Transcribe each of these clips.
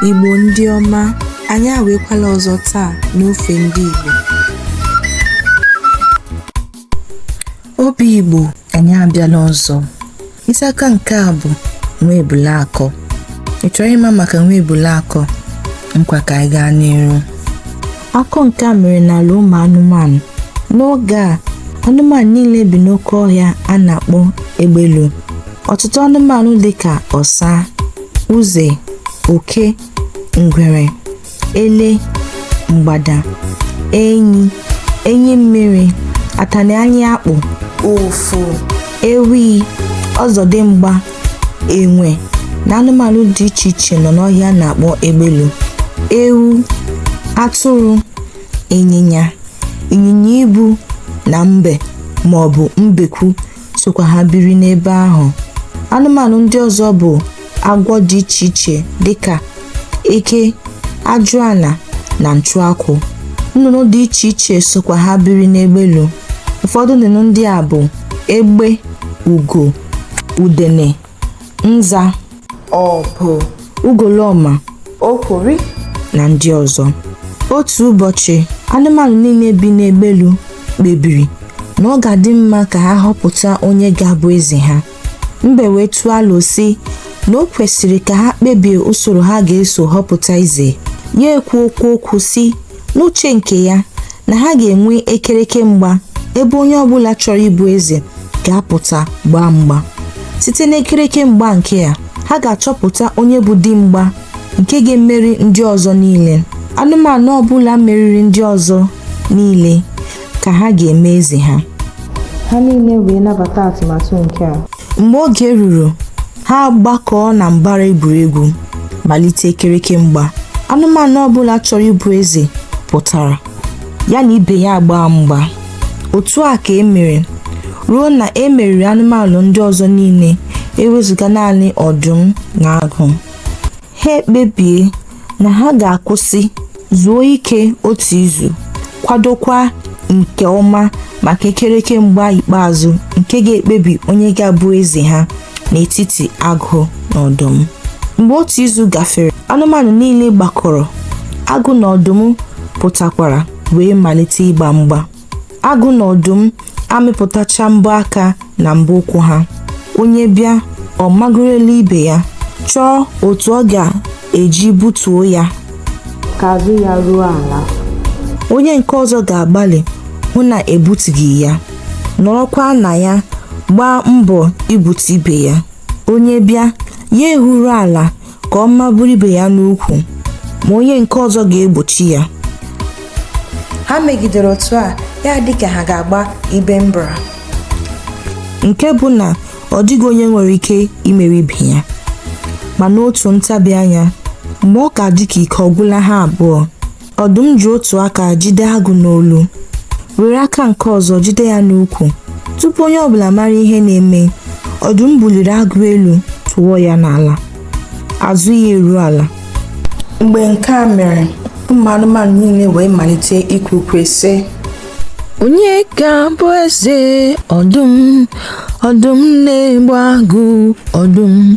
Igbo ndị ọma, anyị awekwala ọzọ taa n'ofe ndị Igbo. Obi Igbo, anyị abịala ọzọ. Isi akọ nke a bụ nwa ebule akọ. Ị chọrọ ịma maka nwa ebule akọ? Ngwa ka anyị gaa n'iru. Akọ nke a mere n'ala ụmụ anụmanụ. N'oge a, anụmanụ niile bi n'oke ọhịa a na-akpọ egbelu. Ọtụtụ anụmanụ dị ka ọsa, uze, oke, ngwere, ele, mgbada, enyi, enyi mmiri, atani anya akpụ, ufu, ewi, ọzọdimgba, enwe na anụmanụ dị iche iche nọ n'ọhịa a na-akpọ egbelu ewu atụrụ ịnyịnya ịnyịnya ibu na mbe ma ọ bụ mbekwu sokwa ha biri n'ebe ahụ anụmanụ ndị ọzọ bụ agwọ dị iche iche dịka eke ajụala na nchụakwụ nnụnụ dị iche iche sokwa ha biri n'egbelu ụfọdụ nnụnụ ndị a bụ egbe ugo udene nza obu ugolọma okiri na ndị ọzọ otu ụbọchị anụmanụ niile bi n'egbelu kpebiri na ọ ga-adị mma ka ha họpụta onye ga-abụ eze ha mbe wee tụọ alo sị na o kwesịrị ka ha kpebie usoro ha ga-eso họpụta eze ya ekwukwuo okwu sị n'uche nke ya na ha ga-enwe ekereke mgba ebe onye ọbụla chọrọ ịbụ eze ga-apụta gbaa mgba site n'ekereke mgba nke a ha ga-achọpụta onye bụ di mgba nke ga-emeri ndị ọzọ niile anụmanụ ọbụla meriri ndị ọzọ niile ka ha ga-eme eze ha ha niile wee nabata atụmatụ nke a mgbe oge ruru ha agbakọọ na mbara egwuregwu malite ekereke mgba anụmanụ ọbụla chọrọ ịbụ eze pụtara ya na ibe ya agbaa mgba otu a ka e mere ruo na e meriri anụmanụ ndị ọzọ niile ewezụga naanị ọdụm na agụ ha ekpebie na ha ga-akwụsị zuo ike otu izu kwadokwa nke ọma maka ekereke mgba ikpeazụ nke ga-ekpebi onye ga-abụ eze ha n'etiti agụ na ọdụm mgbe otu izu gafere anụmanụ niile gbakọrọ agụ na ọdụm pụtakwara wee malite ịgba mgba agụ na ọdụm amịpụtacha mbọ aka na mbọ ụkwụ ha onye bịa ọ magorola ibe ya chọọ otu ọ ga-eji butuo ya ka azụ ya ruo ala onye nke ọzọ ga-agbalị hụ na ebutughị ya nọrọkwa na ya gbaa mbọ ibutu ibe ya onye bịa ya ehuru ala ka ọ maburu ibe ya n'ukwu ma onye nke ọzọ ga-egbochi ya ha megidere otu a ya adị ka ha ga-agba ibe mbra nke bụ na ọ dịghị onye nwere ike imeri ibe ya ma n'otu ntabi anya mgbe ọ ka dị ka ike ọ gwụla ha abụọ Ọdụm ji otu aka jide agụ n'olu, were aka nke ọzọ jide ya n'ukwu. Tupu onye ọbụla mara ihe na-eme, ọdụm buliri agụ elu tụọ ya n'ala. Azụ ya eruo ala. Mgbe nke a mere, ụmụ anụmanụ niile wee malite ikwe ukwe sị, Onye ga-abụ eze ọdụm? Ọdụm na-egbu agụ ọdụm.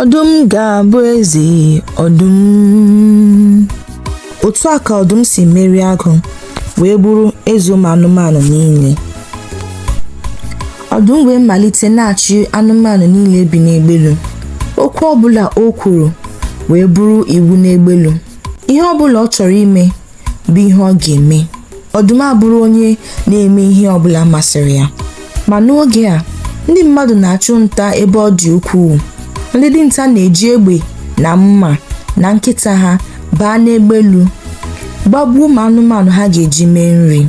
ọdụm ga-abụ eze ọdụm otu a ka ọdụm si merie agụ wee bụrụ eze ụmụ anụmanụ niile ọdụm wee malite na-achị anụmanụ niile bi n'egbelu okwu ọbụla o kwuru wee bụrụ iwu n'egbelu ihe ọbụla ọ chọrọ ime bụ ihe ọ ga-eme ọdụm abụrụ onye na-eme ihe ọbụla masịrị ya ma n'oge a ndị mmadụ na-achụ nta ebe ọ dị ukwuu ndị dinta na-eji egbe na mma na nkịta ha baa n'egbelu gbagbuo ụmụ anụmanụ ha ga-eji mee nri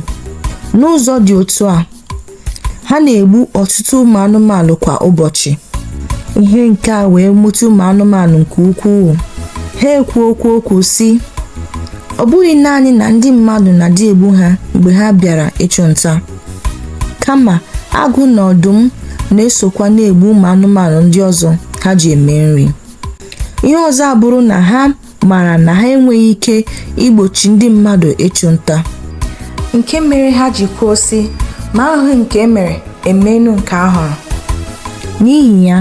n'ụzọ dị otu a ha na-egbu ọtụtụ ụmụ anụmanụ kwa ụbọchị ihe nke a wee wute ụmụ anụmanụ nke ukwuu ha ekwu okwu okwu sị ọ bụghị naanị na ndị mmadụ na-adị egbu ha mgbe ha bịara ịchụ nta kama agụ na ọdụm na-esokwa na-egbu ụmụ anụmanụ ndị ọzọ ha ji eme nri ihe ọzọ abụrụ na ha mara na ha enweghị ike igbochi ndị mmadụ ịchụ nta nke mere ha ji kwuo sị ma ahụghị nke e mere e meenụ nke a hụrụ n'ihi ya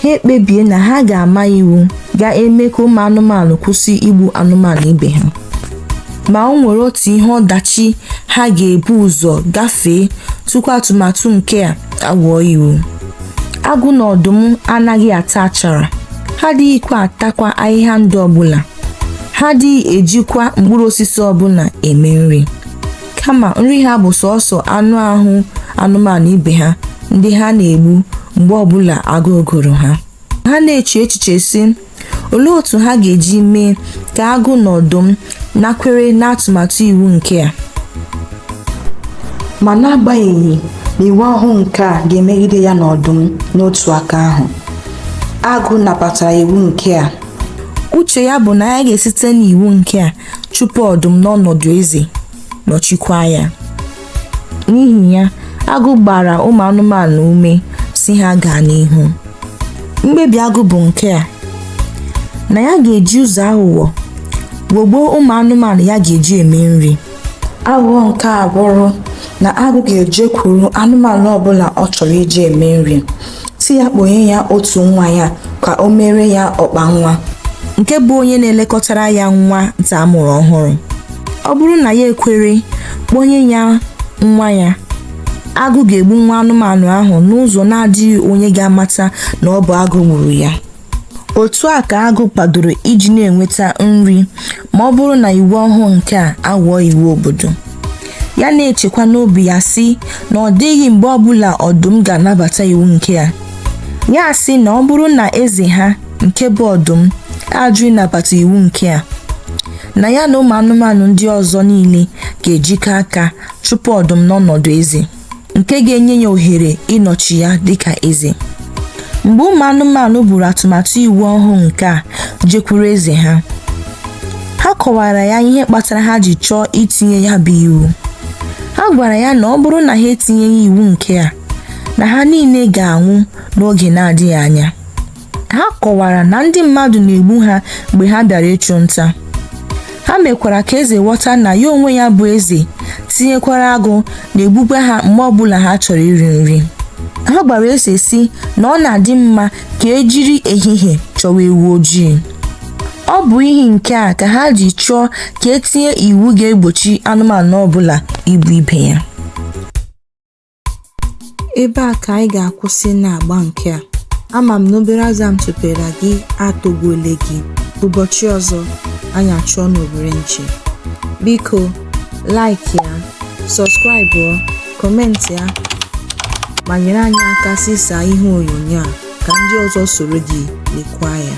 ha ekpebie na ha ga-ama iwu ga-eme ka ụmụ anụmanụ kwụsị igbu anụmanụ ibe ha ma o nwere otu ihe ọdachi ha ga-ebu ụzọ gafee tupu atụmatụ nke a aghọọ iwu agụ na ọdụm anaghị ata achara ha adịghịkwa atakwa ahịhịa ndụ ọbụla ha adịghị ejikwa mkpụrụ osisi ọbụla eme nri kama nri ha bụ sọsọ anụ ahụ anụmanụ ibe ha ndị ha na-egbu mgbe ọbụla agụụ gụrụ ha ha na-eche echiche sị Olee otu ha ga-eji mee ka agụ na ọdụm nakwere n'atụmatụ iwu nke a? Ma n'agbanyeghị na iwu ọhụụ nke a ga-emegide ya na ọdụm n'otu aka ahụ, agụ nabatara iwu nke a. Uche ya bụ na ya ga-esite n'iwu nke a chụpụ ọdụm n'ọnọdụ eze, nọchikwa ya. N'ihi ya, agụ gbara ụmụ anụmanụ ume sị ha gaa n'ihu. Mkpebi agụ bụ nke a, na ya ga-eji ụzọ aghụghọ ghọgbuo ụmụ anụmanụ ya ga-eji eme nri. Aghụghọ nke a bụrụ na agụ ga-ejekwuru anụmanụ ọbụla ọ chọrọ iji eme nri. sị ya kpọnye ya otu nwa ya ka o mere ya ọkpa nwa nke bụ onye na-elekọtara ya nwa nta a mụrụ ọhụrụ ọ bụrụ na ya ekwere kpọnye ya nwa ya agụ ga-egbu nwa anụmanụ ahụ n'ụzọ na-adịghị onye ga-amata na ọ bụ agụ gburu ya otu a ka agụ kwadoro iji na-enweta nri ma ọ bụrụ na iwu ọhụụ nke a aghọọ iwu obodo ya na-echekwa n'obi ya sị na ọ dịghị mgbe ọbụla ọdụm ga-anabata iwu nke a ya sị na ọ bụrụ na eze ha nke bụ ọdụm ajụ ịnabata iwu nke a na ya na ụmụ anụmanụ ndị ọzọ niile ga-ejikọ aka chụpụ ọdụm n'ọnọdụ eze nke ga-enye ya ohere ịnọchi ya dịka eze mgbe ụmụ anụmanụ buru atụmatụ iwu ọhụụ nke a jekwuru eze ha ha kọwara ya ihe kpatara ha ji chọọ itinye ya bụ iwu ha gwara ya na ọ bụrụ na ha etinyeghị iwu nke a na ha niile ga-anwụ n'oge na-adịghị anya ha kọwara na ndị mmadụ na-egbu ha mgbe ha bịara ịchụ nta ha mekwara ka eze ghọta na ya onwe ya bụ eze tinyekwara agụ na-egbukwa ha mgbe ọbụla ha chọrọ iri nri ha gwara eze sị na ọ na-adị mma ka e jiri ehihie chọwa ewu ojii ọ bụ ihi nke a ka ha ji chọọ ka e tinye iwu ga-egbochi anụmanụ ọbụla igbu ibe ya Ebe a ka anyị ga-akwụsị n'agba nke a. Ama m na obere azụ a m tụpere gị atọgbuole gị. Ụbọchị ọzọ, anyị achụọ n'owere nchi. Biko, like ya, subscribe ọ, comment ya, ma nyere anyị aka zisaa ihe onyonyo a ka ndị ọzọ soro gị lekwa ya.